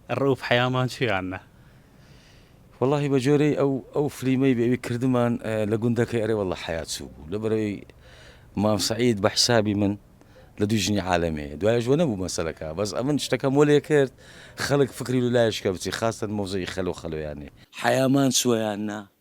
رئوف حەیامان چوو یان نا. وەڵاهی بە جۆرەی ئەو ئەو فلیمەی بێ ئەوی کردمان لە گوندەکەی ئەرێ وەڵا حەیا چوو بوو لەبەرەوەی مام سەعید بە حیسابی من لە دووی ژنی عالەمێیە دوایش وە نەبوو مەسەلەکە بەس ئەمن شتەکەم وەلێ کرد خەلک فکری لە لایشکە بچی خاستەن مەوزەی خەلۆ خەلۆیانێ حەیامان چووە یان نا.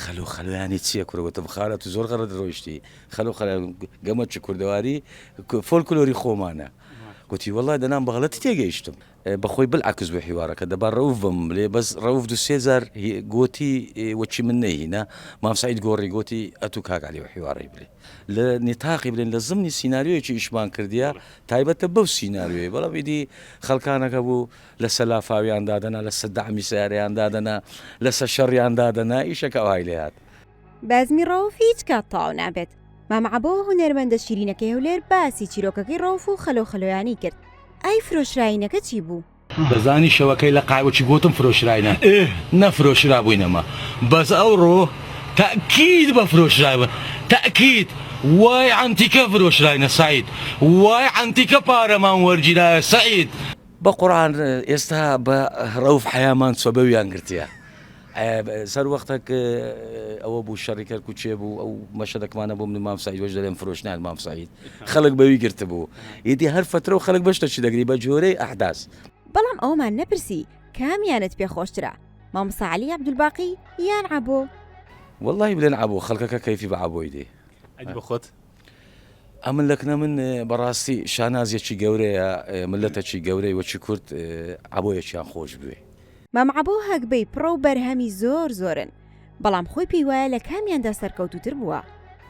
خەلۆ خەلۆ یانی چیە کورە وتم خالە تو زۆر غەلەت رۆیشتی خەلۆ خەلۆ گەمە چ کوردەواری فۆلکلۆری خۆمانە وتی وەڵای دەنام بە غەلەتی تێگەیشتم بەخۆی بلعکس بوو حیوارەکە دەبا رەوف بم لێ بەس رەوف دو سێ جار گۆتی وەچی من نەیهینا مام سەعید گۆڕی گۆتی ئەتو کاک علی حیوارەی بلێ لە نیتاقی بلێن لە زمنی سیناریۆیەکی ئیشمان کردیە تایبەتە بەو سیناریۆیە بەڵام ئیدی خەلکانەکە بوو لەسە لافاویان دادەنا لەسە دەعمی سەیارەیان دادەنا لەسە شەڕیان دادەنا ئیشەکە ئەوهای لێ هات. بەزمی ڕەوف هیچ کات تەواو نابێت. مام عەبۆ هونەرمەندە شیرینەکەی هەولێر باسی چیرۆکەکەی ڕەوف و خەلۆ خەلۆیانی کرد. ئای فرۆشراینەکە چی بوو؟ دەزانی شەوەکەی لە قاعە چی گۆتم فرۆشراینە ئه نەفرۆشرابووینەما بەس ئەوڕۆ تەئکید بە فرۆشرابووین تەئکید وای عەنتیکە فرۆشراینە سەعید وای عەنتیکە پارەمان وەرگیرایە سەعید. بە قورعان ئێستا بە رەوف حەیامان سەبەویان گرتیە سەر وەختەک ئەوە بوو شەڕی کەرکو چێ بوو ئەو مەشەدەکمانە بۆ منی مامسایی وەش دەێن فرۆشنان مامساییت خەڵک بەوی گرت بوو ئیدی هەر فترە و خەڵک بەشتە چی دەگری بە جۆرەی ئەحداس بەڵام ئەوەمان نەپرسی کامیانت پێ خۆشترە مامساعلی عبدولباقی یان عبۆ؟ واللهی بلێن عبۆ خەڵکەکە کەیفی بە عبۆی دێ بە خۆت؟ ئەمن لەکنە من بەڕاستی شانازیەکی گەورەیە ملەتەکی گەورەی وەکی کورد عەبۆیەکیان خۆش بوێ. مام عەبۆ هەگبەی پڕە و بەرهەمی زۆر زۆرن بەڵام خۆی پێی وایە لە کامیاندا سەرکەوتووتر بووە.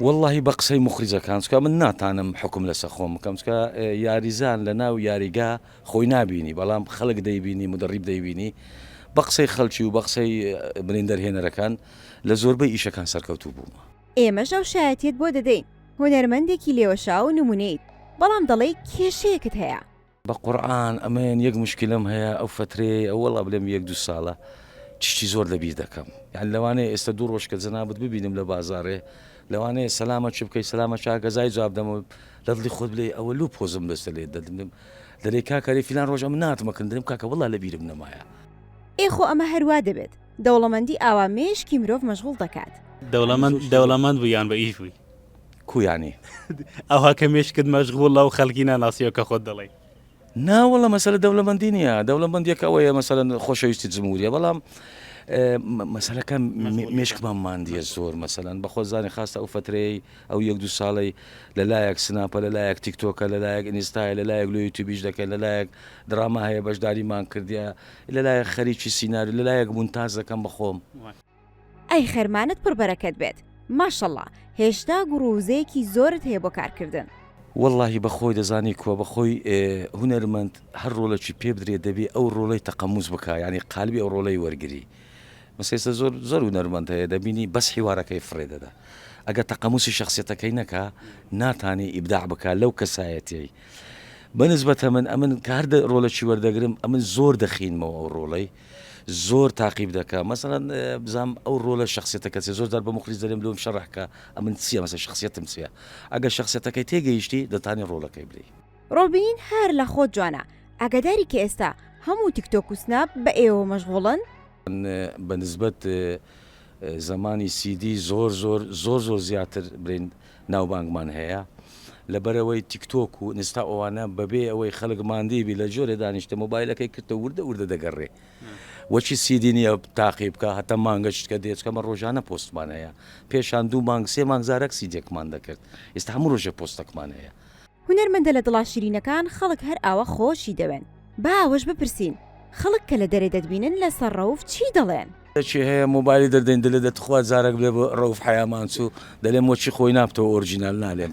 وەڵاهی بە قسەی موخریجەکان چکە من ناتانم حوکم لەسە خۆم بکەم چکە یاریزان لە ناو یاریگا خۆی نابینی بەڵام خەلک دەیبینی مدەڕیب دەیبینی بە قسەی خەلکی و بە قسەی بریندەر هێنەرەکان لە زۆربەی ئیشەکان سەرکەوتوو بوومە. ئێمەش ئەو شایەتیەت بۆ دەدەین هونەرمەندێکی لێوەشاو و نمونەیت بەڵام دەڵێی کێشەیەکت هەیە. بە قورعان ئەمن یەک موشکیلەم هەیە ئەو فەترەیەی ئەو وەڵا بلێم یەک دوو سالە چشتی زۆر لە بیر دەکەم یان لەوانەیە ئێستە دوو ڕۆژ کە جەنابت ببینم لە بازاڕێ لەوانەیە سەلامە چ بکەی سەلامە چا گەزای جواب دەمە لە دڵی خۆت بلێ ئەوە لوو پۆزم بەستە لێ دەدنم دەلێ کاکەێ فیلان ڕۆژە من ناتمەکردم کاکە وڵا لە بیرم نەمایە. ئێ خۆ ئەمە هەروا دەبێت. دەوڵەمەندی ئاوا مێشکی مرۆڤ مەشغوڵ دەکات. دەوڵەمەند دەوڵەمەند بووی یان بە ئیش بووی؟ کوو یانی؟ ئەوها کە مێشکت مەشغوڵە و خەڵکی ناناسیەوە کە خۆت دەڵێی. نا وەڵا مەسەلە دەولەمەندی نیە دەولەمەندیەکە ئەوەیە مەسەلەن خۆشەویستی جموریە بەڵام مەسەلەکە مێشکمان ماندیە زۆر مەسەلەن بەخۆزانانی خاستە ئەو فترەیە ئەو یەک دو ساڵی لە لایەک سناپە لە لایەک تیکتۆکە لە لایەک ئینستای لە لایەک لۆ یوتیبیش دەکەن لە لایەک دراما هەیە بەشداریمان کردیا لە لایەک خەریکی سیناریۆ لە لایەک مونتاج دەکەم بە خۆم. ئەی خەرمانت پڕ بەرەکەت بێت ماشەڵا هێشتا گوڕو وزەیەکی زۆرت هەیە بۆ کارکردن. وەڵاهی بەخۆی دەزانی کوا بەخۆی هونەرمەند هەر ڕۆڵەکی پێ بدرێ دەبێ ئەو ڕۆڵەی تەقەموس بکا یانی قالبی ئەو ڕۆڵەی وەرگری مەسە ئێستا زۆر زۆر هونەرمەند هەیە دەبینی بەس حیوارەکەی فڕێ دەدا ئەگەر تەقەموسی شەخسیەتەکەی نەکا ناتانی ئیبداع بکا لەو کەسایەتیەی بە نسبەت ئەمن ئەمن کە هەر دە ڕۆلەکی وەردەگرم ئەمن زۆر دەخینمەوە ئەو ڕۆڵەی زۆر تاقیب دەکە مەسەن بزانام ئەو ڕۆلە شخصێتەکە چێ زۆر دار بە مخلیس دەێم لۆم شەڕحکە ئەمن چیە مەسە شخصێتم چیە ئەگە شخصێتەکەی تێگەیشتی دەتانی ڕۆڵەکەی بلی ڕۆبین هەر لە خۆت جوانە ئاگاداری کە ئێستا هەموو تیکتۆک و سناپ بە ئێوە مەشغوڵن؟ بە نسبەت زمانی سیدی زۆر زۆر زۆر زۆر زیاتر برین ناوبانگمان هەیە لەبەرئەوەی تیک تۆک و ئینستا ئەوانە بەبێ ئەوەی خەلک ماندی بی لەجۆرێ دانیشتە مۆبایلەکەی کرتە وردە وردە دەگەڕێ وەچی سیدی نیە تاقی بکە هەتا مانگە شتکە دێت چکەمە ڕۆژانە پۆستمان هەیە پێشان دوو مانگ سێ مانگ زارەک سیدێکمان دەکرد ئیستا هەموو ڕۆژێ پۆستەکمان هەیە. هونەرمەندە لە دڵا شیرینەکان خەڵک هەر ئاوا خۆشی دەوێن. با ئەوەش بپرسین خەڵک کە لە دەرێ دەتبینن لەسەر ڕەوف چی دەڵێن؟ کەچی هەیە مۆبایلی دەردەین دەلێ دە تخوا جارەک بلێ بۆ ڕەوف حەیامان چوو دەلێم وەچی خۆی نابتەوە ئۆرجینال نالێم.